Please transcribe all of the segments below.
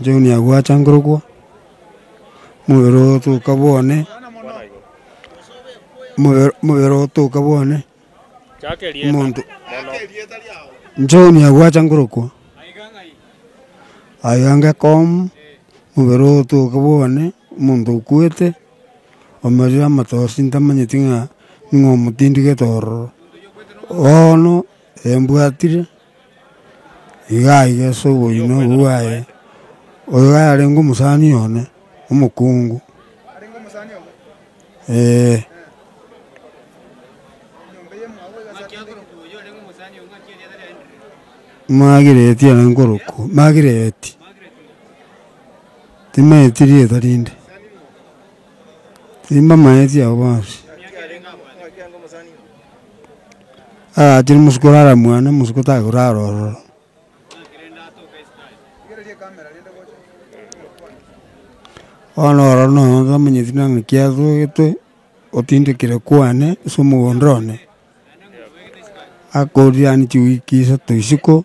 John agwacha nkorokwo, omobere otoka bwane, omobere omobere otoka bwane, Chaka erieta omonto mono. John agwacha nkorokwo, aiga ngekomu, omobere otoka bwane, omonto okwete, omarire amatosi ntamanyeti ng'a ning'o omotindigete ororo. Bono, embwatire. Iga aiga ase oboino obwo bwaye, oyo yarenge omosani one omokungu, ee. Magireti ere nkorokwa Magireti, timanyeti rieta rinde. Imba amaeti ao bonsi. Agachire omosuku orara mwane, omosuku otake korara ororo. Bono oro noyo otamanyeti nang'aki asoete, otindekire kwane ase omogondo one. akorirania chiwiki isato isiko,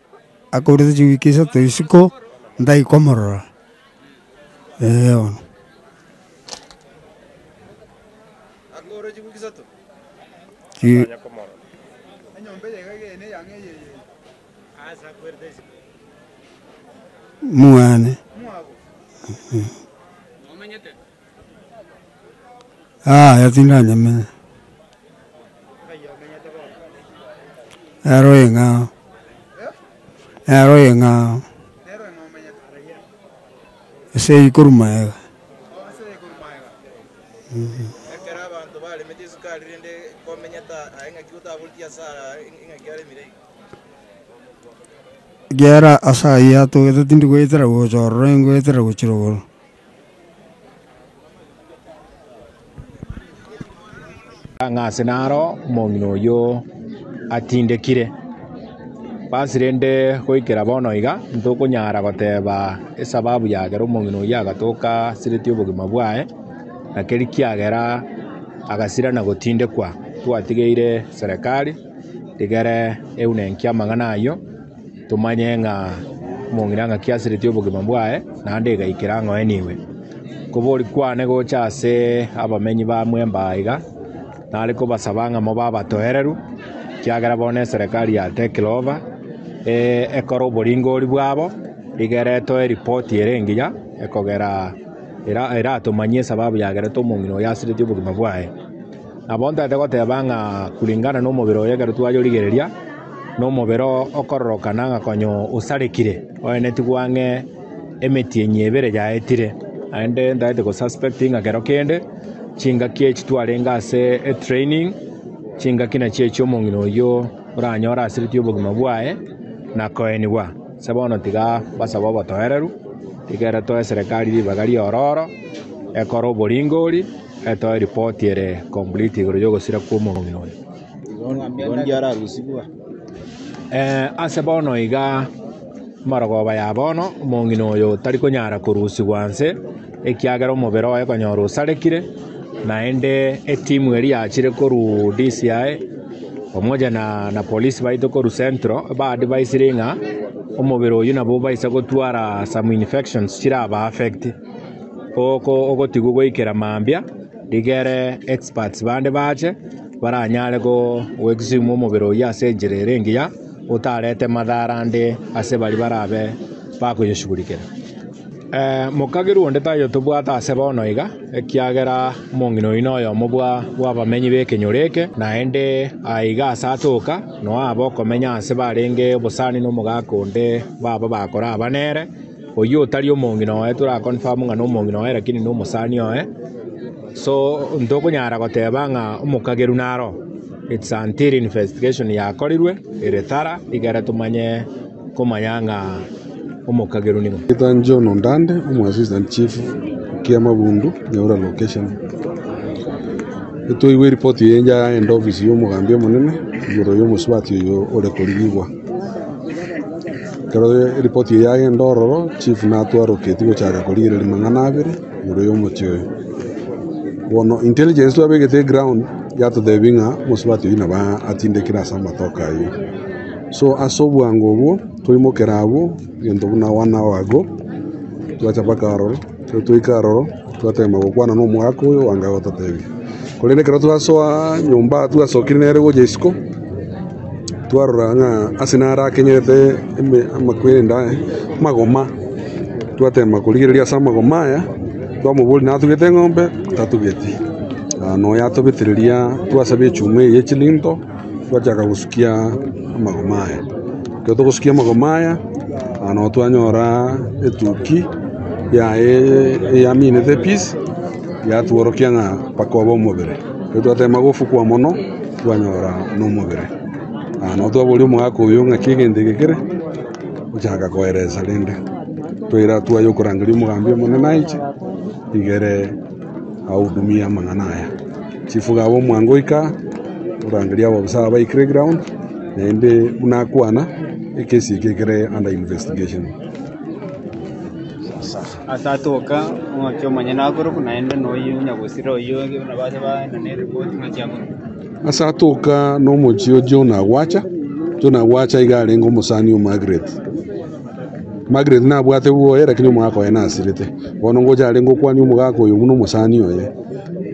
akourete chiwiki isato isiko, ndai komorora, eeh bono. Ki- mwabo. Yaya tindanyamenya, nero eng'ao, nero eng'ao ase eikuru magega. Ekiagera ase ayio atogete tindi goetera gocha ororo, engoetere gochia rogoro. Ng'a ase naro omong'ina oyio atindekire. Basi rende goikera bono iga, ntokonyara goteba esababu y'agera omong'ina oyio agatoka asiretie obogima bwaye, na keri kiagera agasirana gotindekwa. Twatigeire serekari rigere eunenkie amang'ana ayio. Tomanye ng'a omong'ina ng'aki asiretie obogima bwaye, naende igaikera ang'o enigwe. Okoboria kwane gocha ase abamenyi ba Mwemba aiga, nare kobasaba ng'a mobe abatoereru, ekiagera bono neserekari ya Tekilova ekore oboringori bwabo, iga ere etoe ripoti ere engiya ekogera eratomanyie esababu yagerete omong'ina oyo asiretie obogima bwaye. Nabo ntaete goteba ng'a kulingana nomobere oye ekero twayorigereria, nomobere okororokana ng'a konya osarekire, oenetigwe ang'e emetienyi ebere yaetire. Naende ntaete go suspect ng'a kero kende, chingaki echi twarenge ase etraining, chingaki nachio echi omong'ina oyio oranyore asiritie obogima bwaye, na koenigwa. Ase bono tiga mbasabe obotoereru, tiga ere toe serikali ribaga ri'ororo, ekore oboringori. Etoa eripoti ere complete igoro y'ogosira kw'omoromio oyo. Igo ndio ararusigwa. Eh, ase bono iga marogoba ya bono omong'ina oyo tari konyara korusigwa nse ekiagera omobere oye konyora osarekire, naende etimu eri yachire koru DCI pamoja na, na polisi baito koru Central ba advisiri ng'a omobere oyo nabo baisa gotwara some infections chiraba affect. Oko ogotigwa goikera mambia rigere experts bande bache baranyare go exhume omobere oyio ase enchera ere engiya otarete madhara ande ase baria barabe bakoyeshugurikera. Mokagiru onde tayotobwate ase bono iga ekiagera omong'ina oyio noyomo bwa bw'abamenyi b'ekenyoro eke naende aiga ase atoka noabo okomenya ase barenge obosani nomogaka onde baba bakoraba nere. Oyio otari omong'ina oye tora confirm ng'a nomong'ina oye lakini nomosani oye so ntokonyara goteba ng'a omokageru naro it's until investigation yakorirwe ere thara igere tomanye komanya ng'a omokageru nigo. Peter Njono Ndande, omo Assistant Chief Kiama Bundu, Nyaura Location. Etoigwe eripoti eye enchara aende ofisi ya omogambi omonene igoro y'omosubati oyo ore korigigwa. Ekero eripoti eye yagenda ororo, chifu natwara oketi gochaka korigereria mang'ana abere igoro y'omochie oye. Bono intelligence twabegete eground yatotebia ng'a omosubati oyio nabo atindekire ase amatoke ayio. So ase obwango obwo twaimokera abwo egento buna one hour ago twacha mpaka aroro. Toika aroro, twateema gokwana nomogaaka oyo oanga gototebia. Korende ekero twasoa nyomba twasokire nere gochia isiko, twarora ng'a ase naro akenyerete amakwende aye, amagoma. Twateema korigereria ase amagoma aya, twamoboria natugete eng'ombe, tatugeti. Nonya atobetereria twasaba echuma eye ye chilinto. Twachaka gosukia amagoma aya. Ekero togosukia amagoma aya, aa nabo twanyora etuki yaye eyaminete peace yatworokia ng'a mpaka obe omobere. Ekero twatema gofukwa mono, twanyora na omobere. Aa nabo twaboria omogaka oyo ng'aki egento eke kere, ochaka koeresa rende. Toira twaye okorangeria omogambi omonene aiche, rigere. Audumie amang'ana aya chifugo abo mwango oika orangeria ababusa aba baikire eground naende buna akwana ekesi eke ekere under investigation. Ase atoka ng'aki omonyene akorokwa naende noyio onya gosira oyio oyio nabo ase baye na ne report ng'aki akorokwa. Ase atoka nomochie o John Agwacha, John Agwacha iga arenge omosani o Margaret. Margaret nabwate bwo oye, lakini omogaka oye nasirete. Bono ngocha are ngokwani omogaka oyo buna omosani oye.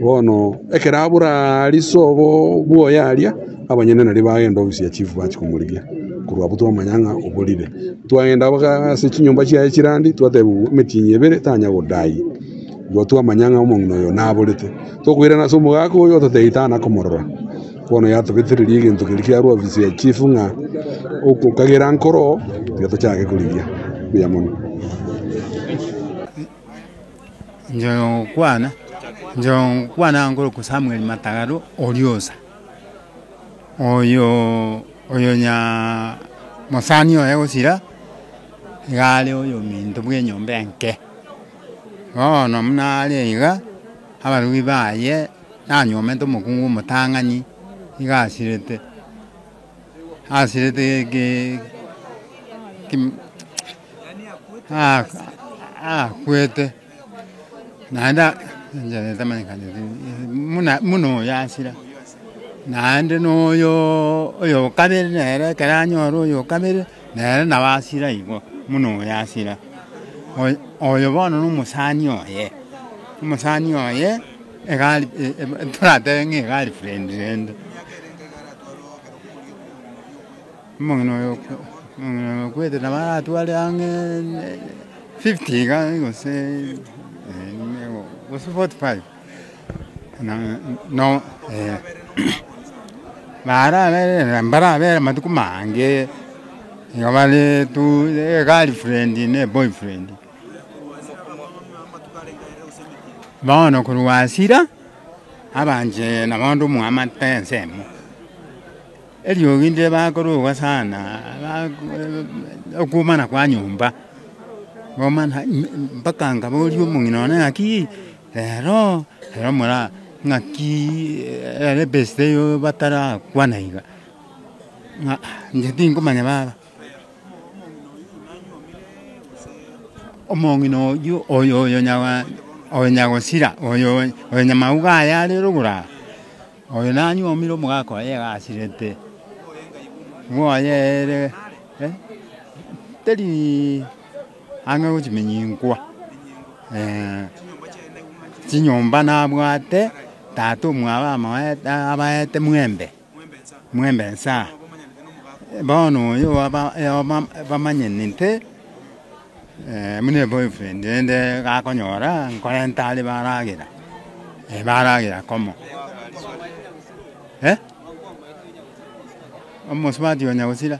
Bono ekero abura riso bo bwoye aria, abanyene naria bagenda ofisi ya chief bachi komorigia. Korwa abwo twamanya ng'a oborire. Twagenda mpaka ase chinyomba chiaye chirandi, twatebiwa emetienyi ebere tanya godai. Igo twamanya ng'a omong'ina oyo naborete. Tokoirana ase omogaka oyo ototebi tana komorora. Bono yatobetereria egento keria kiarwa ofisi ya chief ng'a okokagera nkoro tiga tochake korigia. Mbuya mono. Inche ogokwana, inche ogokwana iga nkoroku Samuel Matagaru Oriosa, oyoo oyo nyaa mosani oye gosira, iga are oyominto bwa enyomba enke. Bono buna are iga, abarubi baye. Nanyoomete omokungu omotang'ani, nigo asirete, asirete eke kim- ah akwete, naende a- encha netamanyekaneti muna muna oyo asira. Naende noyooo oyo okabere nere ekero anyore oyo okabere. Nere nabo asira igo buna oyasira. Oyo bono nomosani oye, omosani oye egari toratebe ng'a egari friend rende. Omong'ina oyo omong'ina oyo okwete nabo aratware ang'e fifty iga gose forty five. Barabere mbarabere amatuko maange, igo bare tu egari frendi na eboy frendi. Bono korwa hasira, abanche na bono omwamate ensemo, eriogi ndire bakorogwa sana, ba- ba- okwomana kwa nyomba, bomana mpaka nkaboria omong'ina one ng'aki. Rero ekero omora ng'aki ere ebesito eyio batarakwana iga, ng'a ah inche tinkomanya baba, omong'ina oyio oyo oyo nyakogenda oyo nyagosira oyo oyo nyamauga aye are rogoro aa, oyo nanyuomire omogaka oye iga asirete, nigo oye ere eh, terii. ang'e gochiminyingwa, chinyomba nabwate, tata omwabo amoete abaete mwembe, mwembe nsaa. Bono oyo oaba eoba bamanyenete buna eboyfrendi rende gakonyora nkorenta are baragera, baragera komo. Omosubati onya gosira.